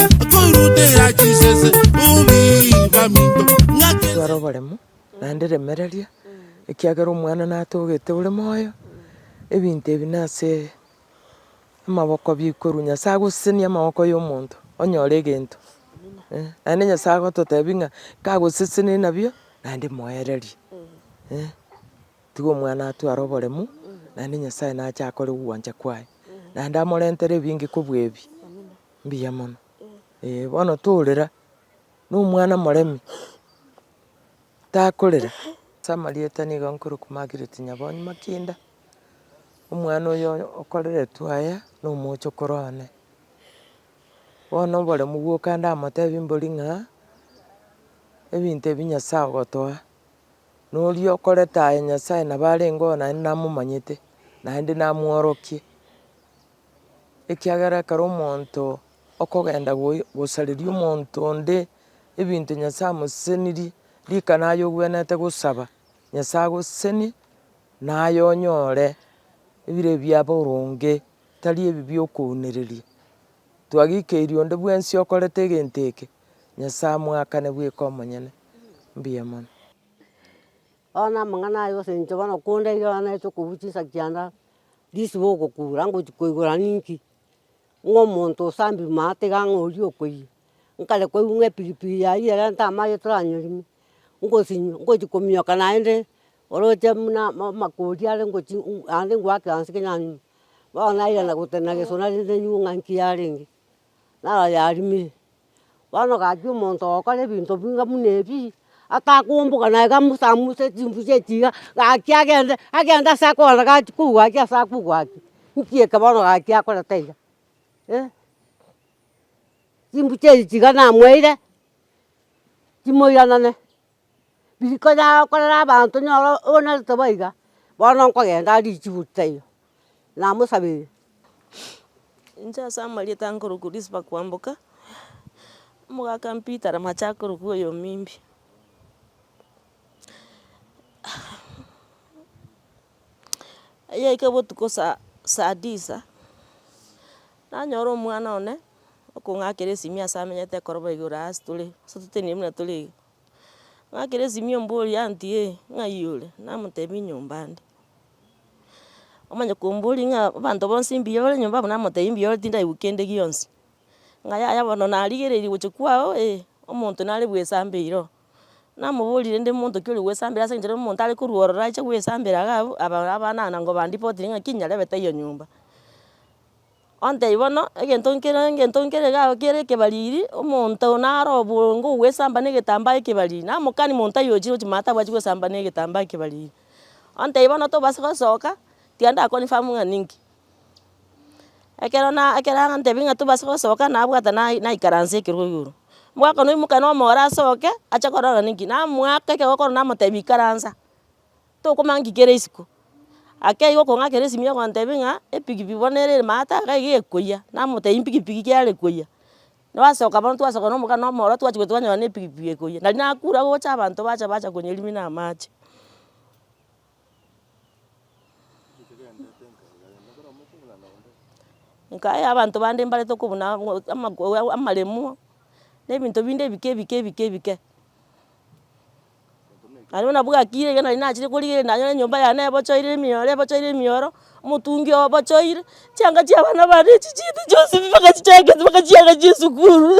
Okoirutera chisese obiba minto ng'ake Tware oboremu, naende remereria, ekiagera Omwana natogete ore moyo, ebinto ebi nase amaboko bikorwa Nyasae agosesenie amaboko yomonto onyore egento. Naende Nyasae agototebia ng'a kagosesenie nabio naende moererie. Tiga omwana atware oboremu naende Nyasae nache akore ogwancha kwaye naende amorentere ebinge kobua ebi. Mbuya mono, eh, bono torera na omwana moremi takorera ase amarieta nigo nkorokwa Margaret Nyabonyi Makinda, omwana oyo okoreretwe aya na omochokoro one. Bono oboremu bwoka ndamotebi mbori ng'a ebinto ebi Nyasaye ogotoa, na oria okorete aya Nyasaye nabo arenge oo naende namomanyete naende namworokie. ekiagera ekero omonto okogenda gosareria omonto onde ebinto Nyasae amosesenirie, rikana aye ogwenerete gosaba Nyasae agosesenie naye onyore ebire bia boronge tari ebi bia okounereria. Twagikeirie onde bwensi okorete egento eke, Nyasae amoakane bweka omonyene. Mbuya mono. Bono amang'ana aya gose inche bono kondaire bono naete okobua chinsa chianda, risiba ogokura ngochi koigora ninki? Ng'a omonto osambiri maa tiga ng'a oria okoyia, nkare koigwa ng'a epiripiri yayio erente amache toranyorime, ngosinywa ngochi kominyoka naende oroche buna amakori are ngochi naende ngoaka eanse kenya nywe, bono nairana gotenena gesona rende nywe ng'a nki yarenge. narayarimire. Bono gaki omonto ogokora ebinto binga buna ebi, atakomboka naye gamusamusa chimbuya echi iga, gaki agende agende ase akogenda gaki kou gaki ase akou gaki, nki eke bono gaki akorete iga? chimbucha echi tiga namoeire, timoiranane. riko yao korera abanto nyoro onyarete bo iga, bono nkogenda ande richibu taiyo, namosabeire. Inche ase amarieta nkorokwa Orispa Kwamboka, omogaka Peter Ramacha akorokwa oyo omimbi. Eyaika botuko sa- saa disa, nanyora omwana one, okong'akera esimi ase amenyete ekoroba igoro ase tore, ase toteneniri buna tore iga. Ng'akire esimio mbworia aunty ee, ng'ai ore? Namotebia enyomba ande. Omanye komboria ng'a abanto bonsi mbuya ore nyomba abwo namotebia mbuya ore tindaigwa kende gionsi. Ng'a yaya bono narigereiri gochia kwao ee, omonto nare bwesamba eiroo. Namoboria rende omonto ki ore bwesambera ase enchera omonto are korwa ororo ache bwesambera iga abwo, aba abanana nkoba reportiri ng'a ki nyarebe taiyo nyomba. Ontebie bono, egento nkere egento nkere iga ago kiere ekebariri, omonto naro obongo ogwesamba na egetambaa ekebariri, namokani monto aye ochire gochia maate abwachi gosamba na egetambaa ekebariri. Ontebie bono tobasa gosoka, tiga nda confirm ng'a ninki. Ekero na ekero arantebia ng'a tobasa gosoka nabwate na- naikaransa ekerogo igoro. Mwakanoimoka na omoro asoke, ache korora ng'a ninki, namoaka ekero okorora namotebia ikaransa. Tokomang'aki kera isiko. Ake igo okong'akera esimi ogontebia ng'a epikipiki bono ere ere maate iga iga ekoyia, namotebia mpikipiki ki are koyia. Nwasoka bono twasoka na omogana omorwa twachia gochia twanyora na epikipiki ekoyia. Nari nakure gocha abanto bacha bacha konyerimia na amache. Nkaya abanto bande mbare tokobuna amaremu, na ebinto binde ebike ebike ebike ebike. Nario buna bwakire ekero nari nachire korigereria nanyore enyomba yane ebochoire emioro ebochoire emioro, omotungi oo obochoire, chianga chia abana bane echi chiaete chionsi pi mpaka chichakete mpaka chiaga chie esukuru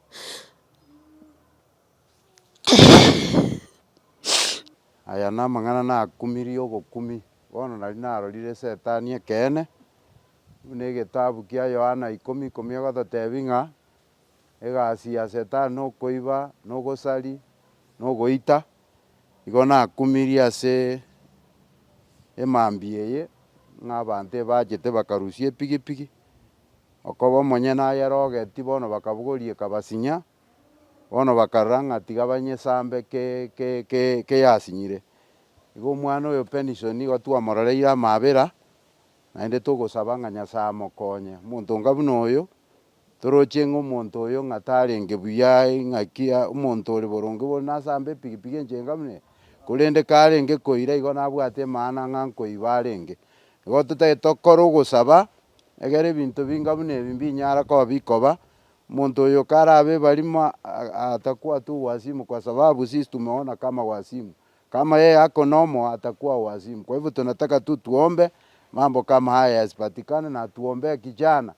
Aya namang'ana nakumirie obokumi, bono nari narorire setani ekeene, buna egetabu kia Yohana ikomi ikomi egototebi ng'a, egasi ya setani nokoiba, nogosari, nogoita. Igo nakumirie ase emambia eye ng'a abanto ebachete bakarusia epigipigi, okoba omonyene ayerogeti bono bakabogoria ekabasinya, bono bakarora ng'a tiga banyesambe ke ke ke keyasinyire. Igo omwana oyo Penison nigo twamorereire amaabera, naende togosaba ng'a Nyasae amokonye. Omonto onga buna oyo. Toroche ng'a omonto oyo ng'a tarenge buya, ing'aki omonto ore boronge bono nasamba epigipigi enchega buna eye, korende karenge koira igo nabwate emana ng'a nkoiba arenge. Igo totagete tokore ogosaba, egere ebinto binga buna ebi mbinyara koba bikoba, omonto oyo karabe ebarimo atakwa tu uwasimu kwa sababu sisi tumeona kama wasimu, kama yeye ako nomo atakua uwasimu, kwa hivyo tunataka tu tuombe mambo kama haya yasipatikane na tuombee kijana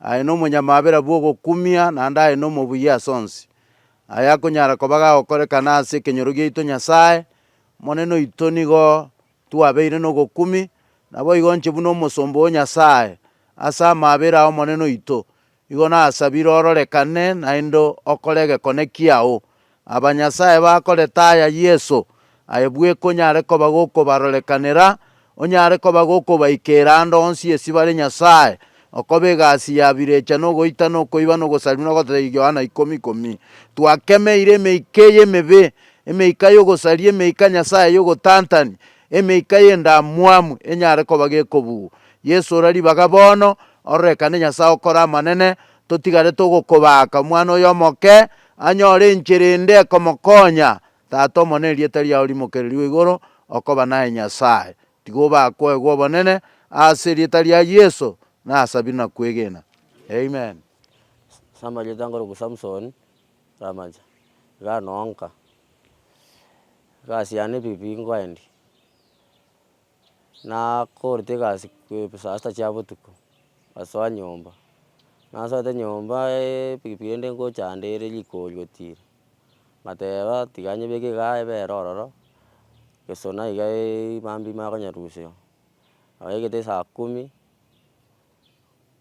Aye nomonyamabera bw'ogokumia, naende aye nomobuya ase onsi. Aye akonyara koba gagokorekana ase ekenyoro giaito Nyasae, Omonene oito nigo twabeire nogokumi, naboigo inche buna omosomba o Nyasae, ase amabera a Omonene oito, igo nasabire ororekane naende okore egekone kiao Abanyasae bakoretaya Yeso, aye bwekonyare koba gokobarorekanera, onyare koba gokobaikeera ande onsi esi bare Nyasae, okoba egasi ya birecha na ogoita na okoiba na ogosarimu na ogototaiga Yohana ikomi ikomi. Twakemeire emeika eye emebe, emeika y'ogosaria, emeika Nyasae y'ogotantania, emeika y'endamwamu enyare koba gekobugwa. Yeso ora ribaga bono, ororekane Nyasae okore amanene, totigarete ogokobaaka omwana oyo omoke, Anyore enchera ende ekomokonya. Tata Omonene, erieta riao rimokererigwe igoro, okoba naye Nyasae. Tiga obakoegwe obonene, ase erieta ria Yeso nasabire na kwegena. Amen. Ase amarieta nkorokwa Samson Ramacha, iga nonka egasi yane pi pi nkoendi. Nakorete egasi kwe saa sita chia botuko, ngasoa nyomba, nasoete nyomba epikipiki ende ngochanda ere rikori otira, ngateba tiga nyebeke igaa ebere ororo, gesona iga eeiyi mambi makonyerusia, naegete saa kumi,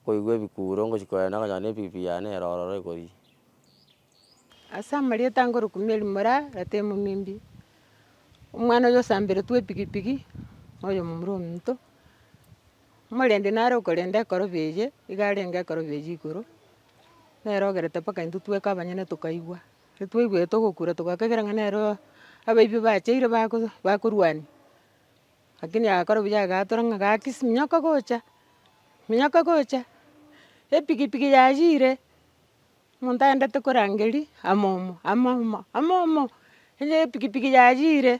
nkoigwa ebikuro ngochia kogenda nokonyora epikipiki yane ero ororo ekoria. Ase amarieta ngorokwa Mary Moraa, rata emomembi, omwana oyio osamberetwe epikipiki, na oyomomura ominto, omorendi nare okorenda ekorobe eye, nigo arenge ekorobe eye igoro, nere ogerete mpaka intwe tweka abanyene tokaigwa, intwe twaigwete ogokura togakegera ng'a nere oo abaibio bacheire bago bakorwania, lakini agakora buya agatora ng'a gaki siminyoko gocha, minyoko gocha, epikipiki yayire. Omonto aendete korangeria amomo, amomo, amomo, onye epikipiki yayiire,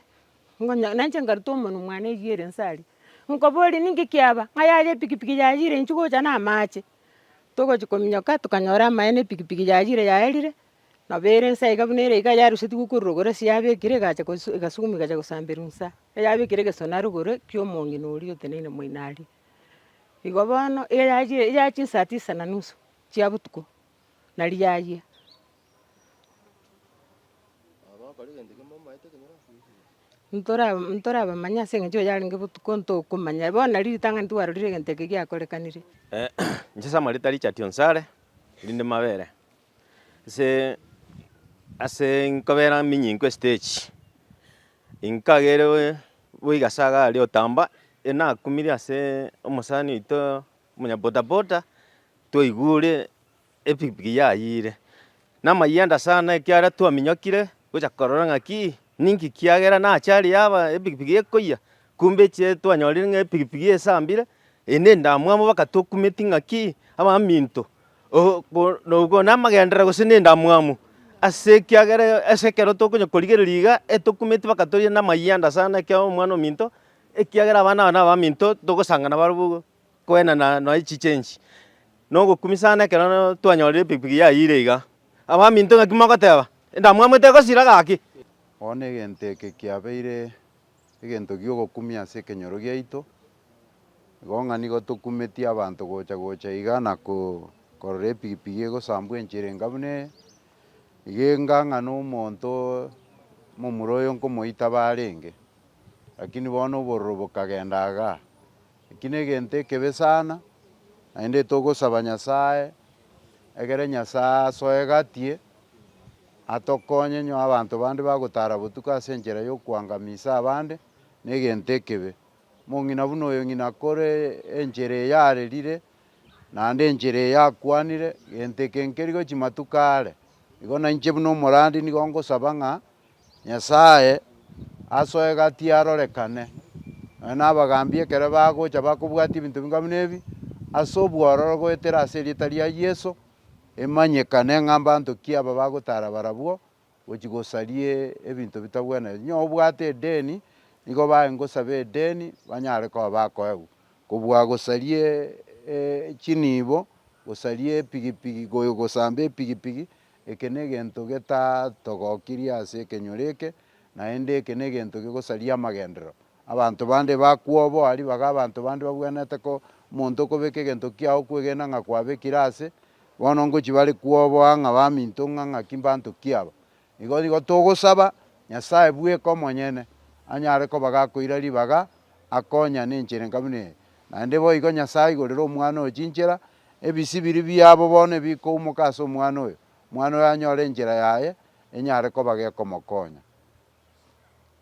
ngonya nainche nkaruta omonwe mwane eywo ere inse aria, nkoboria ninki kiaba? Ng'a yaya epikipiki yayiire inche gocha na amache, togochia kominyoka tokanyora amaene epikipiki yayiire yaerire, nabo ere inse iga buna ere iga yarusetigwe korwa rogoro ase yabekire egacha kosu egasuguma egacha kosamberwa insa, eyabekire egesona rogoro ekio omong'ina oria oteneine moino aria. Igo bono, eyayiire yachia saa tisa na nusu, chia botuko na riayia. Ntora ntorabamanye ase engencho eye yarenge botuko ntokomanya, bono nari ritang'ani tiwarorire egento eke giakorekanire. Inche Samuel tari Chati Onsare, rinde mabere ase ase nkobera minyinko estage, inkageire boigo ase iga aria otamba, nakumirie ase omosani oito Omonyabodaboda twaigure epikipiki yayiire namayanda sana ekiagera twaminyokire gocha korora ng'aki ninki kiagera nache aria yaba epikipiki ekoyia kumbe echiee twanyorire ng'a epikipiki esambire eye nendamwamu bakatokumeti ng'aki abaminto oo ko nogo namagenderero gose nendamwamu ase ekiagera ase ekero tokonya korigereria iga etokumeti bakatoyia namayanda sana ekiagera omwana ominto ekiagera abana aba nabaminto togosangana barabwo igo. Kwenena noe echiche enchi, na ogokumi sana ekero twanyorire epikipiki yayiire iga. Abaminto ng'aki mogoteba? Endamwamu etegosira gaki? Bono egento eke kiabeire egento gi'ogokumia ase ekenyoro giaito, igo ng'a nigo tokumetie abanto gocha gocha iga na korora epikipiki egosambwa enchera enga buna eye, iga enga ng'a na omonto momura oyo nkomoita bare enge. Lakini bono obororo bokagenda igaa. Eki negento ekebe sana, naende togosaba Nyasae egere Nyasae asoe gatie, atokonye nyoo abanto bande bagotara botuko ase enchera y'okoangamisa abande negento ekebe. Omong'ina buna oyo ng'ina akore enchera eye arerire, naende enchera eye akwanire, gento eke nkerigo chimatuko are. Igo nainche buna omorandi nigo ngosaba ng'a. Nyasae asoe gati arorekane, nonya nabagambi ekero bagocha bakobwatia ebinto bing'wa buna ebi, ase obwororo goetera ase erieta ria Yeso, emanyekane ng'a mbanto ki aba bagotara barabwo gochia gosaria ebinto bitagwenereti. Onye obwate edeni, nigo baye ngosabe edeni, banyare koba bakoegwa. Kobua gosaria chinibo, gosaria epigipigi, gosambe epigipigi, Eke negento getatogokirie ase ekenyoro eke, naende eke negento gegosaria amagenderero. Abanto bande bakwa obo, aria baga abanto bande babwenerete ko omonto okobeka egento kiao kwegena ng'a kwabekire aase, bono ngochi bare kwa obo ang'a baminto ng'a ng'aki mbanto ki aba. Igo nigo togosaba Nyasae bweka omonyene anyare koba gakoira ribaga akonyane enchera enka buna eye. Naende boigo Nyasae aigorere omwana oyo chinchera Ebisibiri biabo bono ebikoumoka ase omwana oyo, omwana oyo anyore enchera yaye enyare koba gekomokonya.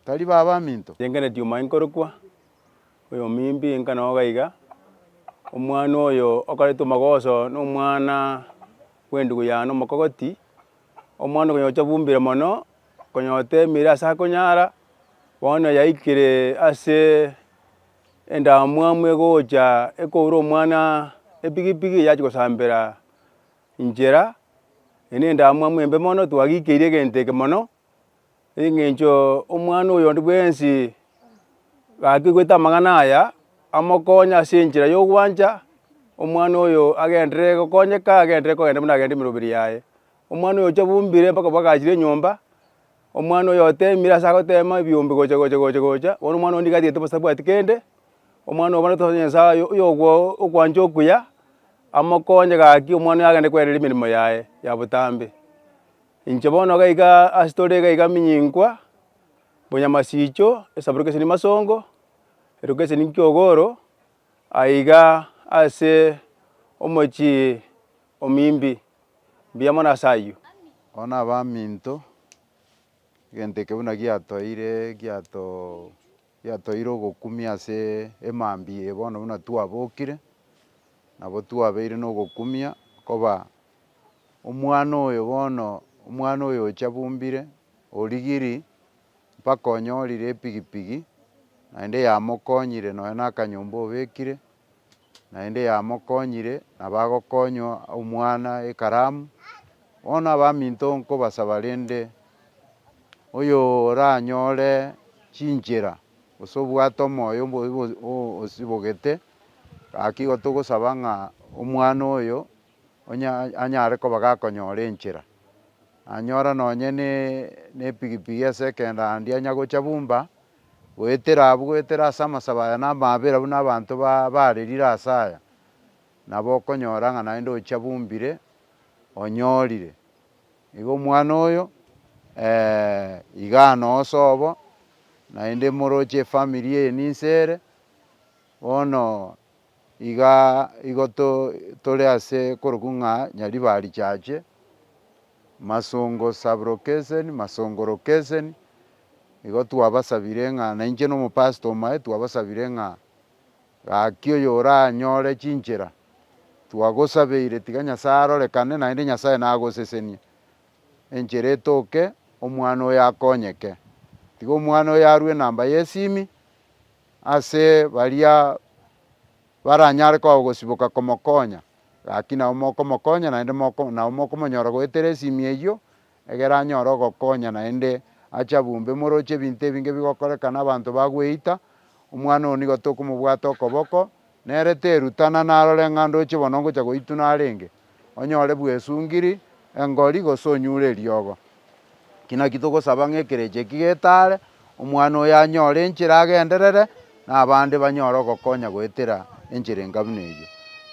Tari baba baminto? Inga netiuma inkorokwa oyomimbi, inga noga iga, omwana oyo okoretwe mogoso nomwana bw'endugu yane omokogoti, omwana okonya gocha bumbire mono, konya otemire ase akonyara, bono yaikire ase Endamwamu egocha ekoura omwana epigipigi eye achia gosambera inchera, eye ne endamwamu embe mono, twagikeirie egento eke mono, eng'encho omwana oyo onde bwensi gakigwete amang'ana aya, amokonye ase enchera ya ogwancha, omwana oyo agenderere gokonyeka, agenderere kogenda buna agenda emeroberi yaye. Omwana oyo ochia bombire mpaka bagaachire enyomba, omwana oyo otemire ase agotema ebiombe gocha gocha gocha gocha, bono omwana onde iga atagete bosa tabwati kende, omwana oyo bono totebe nyasaye oyo oyo okwancha okuya, amokonye gaki omwana oyo agende kwerera emeremo yaye ya botambe. Inche bono iga iga ase tore iga iga minyinkwa, bonyamasicho, esaborokeseni masongo, erokeseni nkiogoro, aiga ase omochie omimbi. mbuya mono ase ayio. Aba nabaminto, egento eke buna giatoire giato giatoire ogokumia ase emambia eye bono buna twabokire, nabo twabeire nogokumia koba omwana oyo bono omwana oyo ocha bumbire origiri mpaka onyorire epigipigi naende yamokonyire nonya na akanyomba obekire, naende yamokonyire, na bagokonywa omwana ekaramu. Bono abaminto nkobasaba rende, oyoranyore chinchera, gose obwate omoyo osibogete, gaki igo togosaba ng'a omwana oyo anyare koba gakonyora enchera. Anyora nonye ne epigipigi ase ekeenda ande anyagocha bumba. Goetera abwo, goetera ase amasabo aya na amaabera buna abanto baarerire ase aya, nabo okonyora ng'a naende ochia bumbire onyorire. Igo omwana oyo iga anoe sobo, naende moroche efamiri eye ninse ere, bono Iga igo tore ase korokwa ng'a Nyaribari Church, Masongo Sub-location, Masongo Location, igo twabasabire ng'a nainche na omopastor omoe twabasabire ng'a gaki oyoranyore chinchera twagosabeire tiga Nyasae arorekane naende Nyasae nagosesenie enchera etoke omwana oyo akonyeke. Tiga omwana oyo arue enamba y'esimi Ase baria baranyare koa ogosiboka komokonya, gaki nao mokomokonya naende nao mokomonyora goetera esimia eyio, egere anyore ogokonya naende ache abumbe. Moroche ebinto ebinge bigokorekana abanto bagweita, omwana oo nigo tokomobwata okoboko, Nere terutana narore ng'a ndoche bono ngocha goituna arenge onyore bwesungiri engori gose onyure eriogo. Ki naki togosaba ng'a ekerecha eki getaare omwana oyo anyore enchera agenderere, na abande banyore ogokonya goetera enchera enga buna eyio.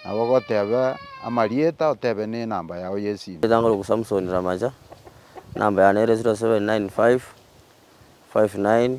Nabo gotebe amarieta otebe ne enamba yao y'esimu. Ritang'o ri'oku Samsoni Ramaja, enamba yane ere 079559.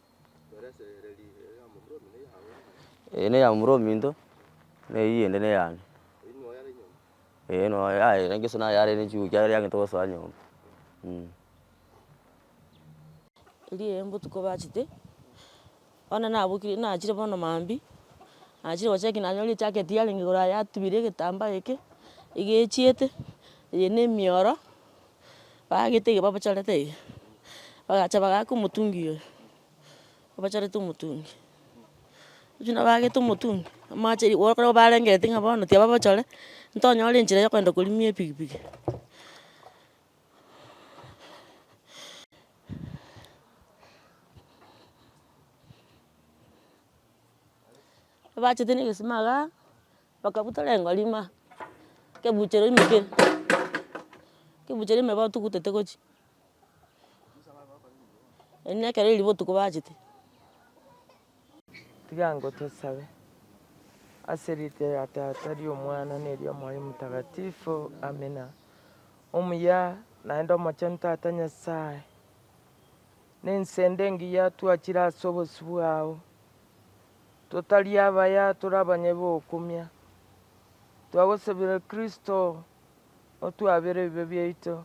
Eye ne ya momura ominto na eyio ende ne yane. Ee no yaye engeso naye yarenge chinguru chiaye yari yagenda gosoa nyomba mh. Riria botuko bachete, bono nabokire nachire bono maambia, nachire gochia ekero nanyorire ejacket yarenge igoro aye yatubire egetambaa eke, egechiete, eye ne emioro. Baagete ege babachorete iga, bagacha bagaaka omotungi oyo, babachorete omotungi. Rirorio nabo baagete omotungi, amache riria korwa barengereti ng'a bono tiga babachore, ntonyore enchera ya okogenda korimia epikipiki. Baachete na egesima igaa. Bakabutora engori ime, ekebuchero ime kere, ekebuchero ime batugutete gochia, eri ne ekero riria botuko bachete. Tiga ngotosabe. Ase erieta ria Tata, ria Omwana, na eria Omoyo Omotagatifu. Amina. Omuya naende omochenu Tata Nyasae, ne ense ende engiya twachire ase obosio bwao. Totari abaya tore abanyene bokumia, twagosabire Kristo otwabere ebibe biaito,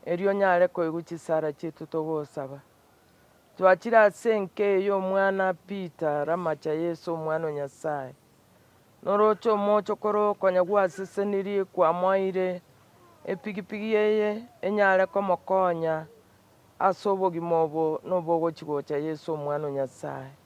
erio onyare koigwa chisara chiaito togosaba. Twachire ase enka eye omwana Peter ramacha Yeso omwana o Nyasaye, noroche omochokoro konya gwasesenirie kwamoeire epigipigi eye enyare komokonya ase obogima obo nobogochi gocha Yeso omwana o Nyasaye.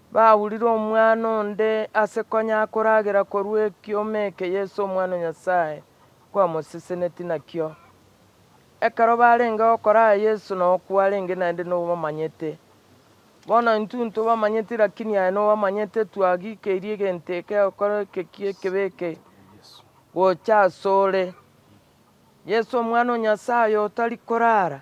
Baurire omwana onde ase konya akoragera korwa ekioma eke Yeso Omwana o Nyasae kwamosesenetie nakio. Ekero barenge gokoraa Yeso na okwo arenge naende nobamanyete. Bono intwe ntobamanyeti lakini aye nobamanyete twagikeirie egento eke egokora eke ki'ekebe eke gocha asore. Yeso Omwana o Nyasae oyo otari korara.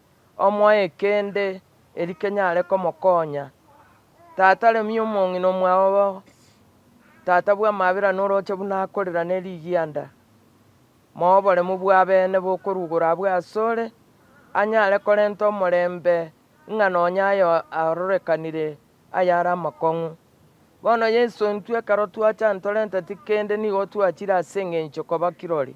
omoe kende eri kenyare komokonya. Tata remia omong'ina omwao bo tata bw'amabera noroche buna akorera ne rigianda. Moa oboremu bw'abene bokorugora abwo asore, anyare korenta omorembe ng'a nonya aye arorekanire ayare amakong'u. Bono Yeso intwe ekero twacha ntorenteti kende nigo twachire ase engencho koba kirori.